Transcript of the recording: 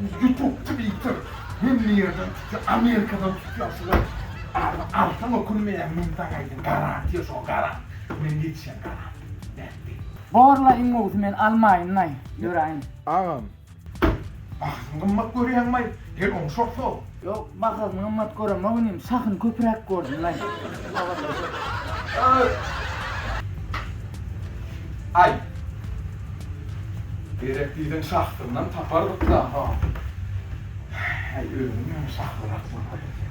Ýutup twiter hemme ýerden tutýa amerikadan tutýa şular aly alsaň ökünmeýäň mydama aýdym garantiýa şo garant men ýetişen garant nät diý. Borla iň gowusy men almaýynlaý ýöräýin. Agam. Bahasyny gymmat görýäňmaý? Gel oňşarsoň. Ýok, bahasyny gymmat göremok inim, şahyny köpräk gördüm men. Aý. Gerek diýseň şahydyndan tapardyk-da, ha. Häý, özüň ýöne şahyrak bolsaýyň sen.